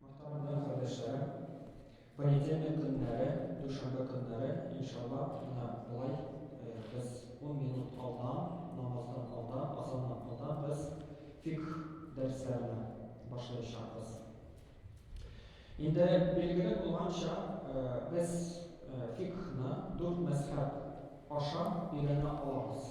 Мөхтәрәм кардәшләрем, понедельник көннәре, дүшәмбе көннәре, иншалла, менә болай без ун минут алдан, намаздан алдан, азаннан алдан без фикх дәресләренә башлаячакбыз. Инде билгеле булганча, без фикхны дүрт мәзһәб аша өйрәнә алабыз.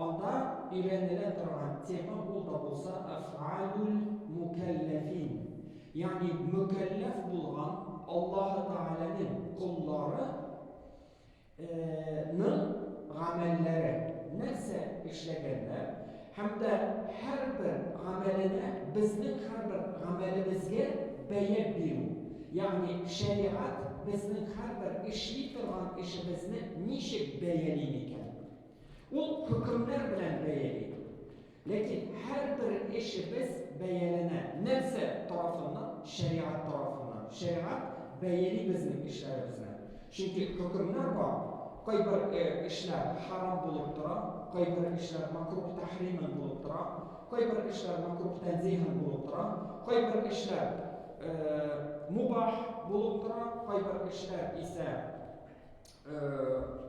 Анда өйрәнелә торган тема ул да булса Аф'алул мукәлләфин, ягъни мөкәлләф булган Аллаһы Тәгаләнең коллары ның гамәлләре, нәрсә эшләгәннәр һәм дә һәрбер гамәленә, безнең һәрбер гамәлебезгә бәя бирү, ягъни шәригать безнең һәрбер эшли торган эшебезне ничек бәяли микән? Ул хөкемнәр белән бәяли. Ләкин һәрбер эшебез бәяләнә. Нәрсә тарафыннан? Шәригать тарафыннан. Шәригать бәяли безнең эшләребезне. Чөнки хөкемнәр бар. Кайбер эшләр харам булып тора, кайбер эшләр макрух тәхримән булып тора, кайбер эшләр макрух тәнзиһән булып тора, кайбер эшләр мубах булып тора, кайбер эшләр исә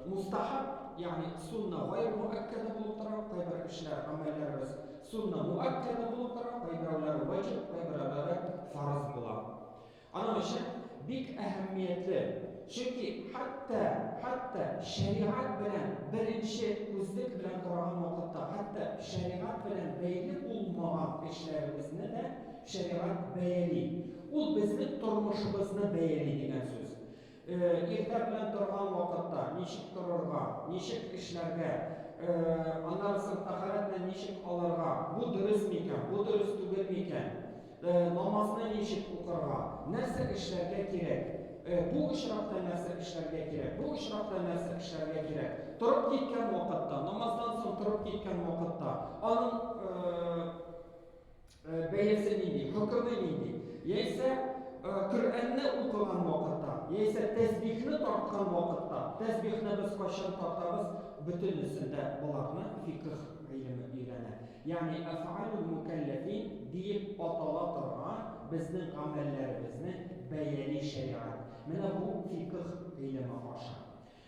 Мустахаб, ягъни сунна гайр муаккада булып тора, кайбер эшләр, гамәлләребез сунна муаккада булып тора, кайберәүләре ваҗиб, кайберәүләре фарыз була. Аның өчен бик әһәмиятле, чөнки хәтта хәтта шәригать белән беренче күзлек белән караган вакытта, хәтта шәригать белән бәйле булмаган эшләребезне дә шәригать бәяли. Ул безнең тормышыбызны бәяли дигән сүз. Иртә белән торган вакытта ничек торырга, ничек эшләргә, аннан соң тәһарәтне ничек алырга, бу дөрес микән, бу дөрес түгел микән, намазны ничек укырга, нәрсә эшләргә кирәк, бу очракта нәрсә эшләргә кирәк, бу очракта нәрсә эшләргә кирәк, торып киткән вакытта, намаздан соң торып киткән вакытта, аның Бәясе нинди, хөкеме нинди? Яисә Коръәнне укыган вакытта, яисә тәсбихне тарткан вакытта, тәсбихне без кайчан тартабыз, бөтенесендә буларны фикх гыйлеме өйрәнә. Ягъни афалул мукаллафин диеп атала торган безнең гамәлләребезне бәяли шәригать. Менә бу фикх гыйлеме аша.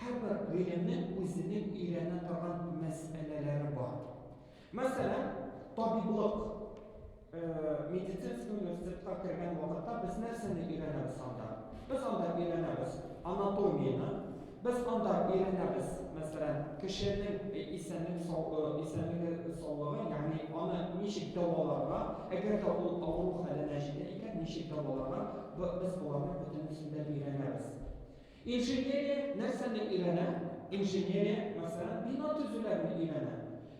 Һәрбер гаиләнең үзенең өйрәнә торган мәсьәләләре бар. Мәсәлән, табиблык, медицинский университетка кергән вакытта без нәрсәне өйрәнәбез анда? Без анда өйрәнәбез анатомияне, без анда өйрәнәбез, мәсәлән, кешенең исәнлек исәнлеге саулыгы, ягъни аны ничек дәваларга, әгәр дә ул авыру хәленә җитә икән, ничек дәваларга, без боларны бөтенесен дә өйрәнәбез. Инженерия нәрсәне өйрәнә? Инженерия, мәсәлән, бина төзүләрне өйрәнә.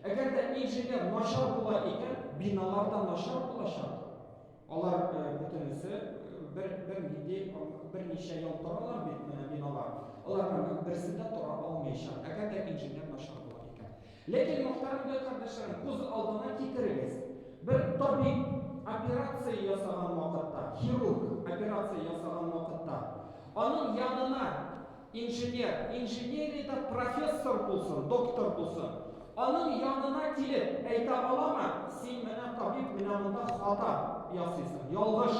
Әгәр дә инженер начар була икән, биналар да начар булачак. Алар бөтенесе бер бер нинди берничә ел торалар бит биналар. Аларның берсе дә тора алмаячак, әгәр дә инженер начар була икән. Ләкин, мохтарам бай кардәшләрем, күз алдына китерегез, бер табиб операция ясаган вакытта, хирург операция ясаган вакытта, аның янына инженер, инженериядә профессор булсын, доктор булсын, аның янына килеп, әйтә аламы, син менә табиб, менә монда хата ясыйсың, ялгыш.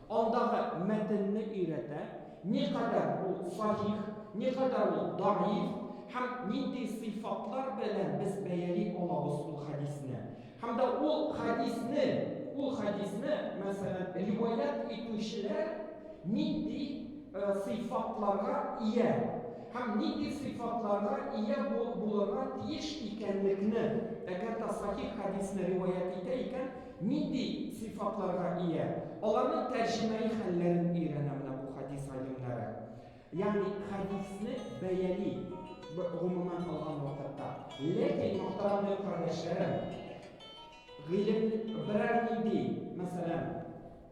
Андагы мәтенне өйрәтә, никадәр ул сахих, никадәр ул даиф һәм нинди сыйфатлар белән без бәяли алабыз ул хәдисне. Һәм дә ул хәдисне, ул хәдисне, мәсәлән, риваять итүчеләр нинди сыйфатларга ия һәм нинди сыйфатларга ия булырга тиеш икәнлекне, әгәр дә сахих хәдисне риваять итә икән, Нинди сыйфатларга ия? Аларның тәрҗемәи хәлләрен өйрәнә менә бу хәдис галимнәре. Ягъни хәдисне бәяли, гомумән алган вакытта. Ләкин, мөхтәрамле кардәшләрем, гыйлем берәр нинди, мәсәлән,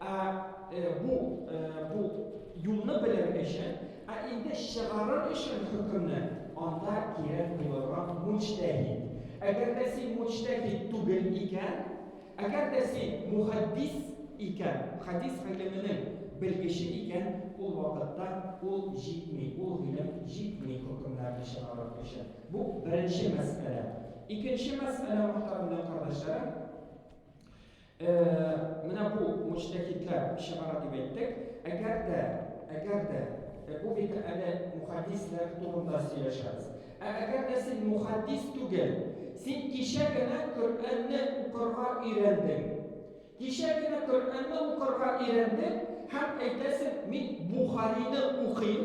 Ә э, бу э, бу юлны белер өчен, ә инде чыгарыр өчен хөкемне анда кирәк булырга мучтәһид. Әгәр дә син мучтәһид түгел икән, әгәр дә син мухаддис икән, хадис гыйлеменең белгече икән, ул вакытта ул җитми, ул гыйлем җитми хөкемнәрне чыгарыр өчен. Бу беренче мәсьәлә. Икенче мәсьәлә мөхтәрәм кардәшләрем, Э, менә бу мөҗтәһидләр чыгара дип әйттек. Әгәр дә, әгәр дә, э, бу бит әле мухаддислар турында сөйләшәбез. Ә әгәр дә син мухаддис түгел, син кичә генә Коръәнне укырга өйрәндең. Кичә генә Коръәнне укырга өйрәндең һәм әйтәсең, мин Бухарины укыйм,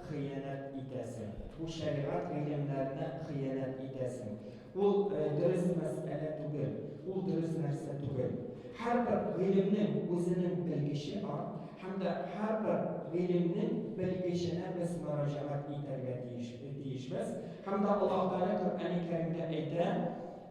хыянәт итәсең. Бу шәригать биргәннәренә хыянәт итәсең. Ул дөрес мәсьәлә түгел, ул дөрес нәрсә түгел. Һәрбер гыйлемнең үзенең белгече бар, һәм дә һәрбер гыйлемнең белгеченә без мөрәҗәгать итәргә тиешбез. Һәм дә Аллаһ Тәгалә Коръәни Кәримдә әйтә,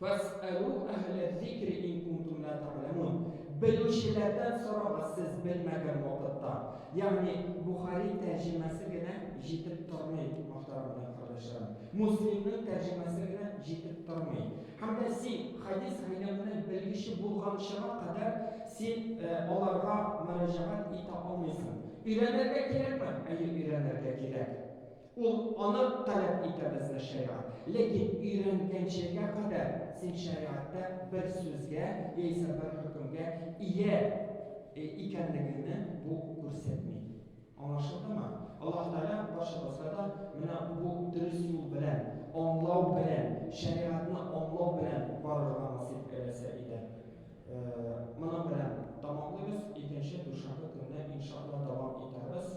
Фәс'әлү әһләз-зикри ин кунтум лә тә'ләмун. Белүчеләрдән сорагыз сез белмәгән вакытта. Ягъни Бухари тәрҗемәсе генә җитеп тормый, мохтарамнар кардәшләрем. Муслимның тәрҗемәсе генә җитеп тормый. Һәм дә син хәдис гыйлеменең белгече булганчыга кадәр син аларга мөрәҗәгать итә алмыйсың. Өйрәнергә кирәкме? Әйе, өйрәнергә кирәк. Ул аны таләп итә безгә шәригать. Ләкин өйрәнгәнчегә кадәр син шәригатьтә бер сүзгә яисә бер хөкемгә ия икәнлегеңне бу күрсәтми. Аңлашылдымы? Аллаһ Тәгалә барчабызга да менә бу дөрес юл белән, аңлау белән, шәригатьне аңлау белән барырга насыйп әйләсә иде. Моның белән тәмамлыйбыз, икенче дүшәмбе көнне, иншаАллаһ, дәвам итәрбез.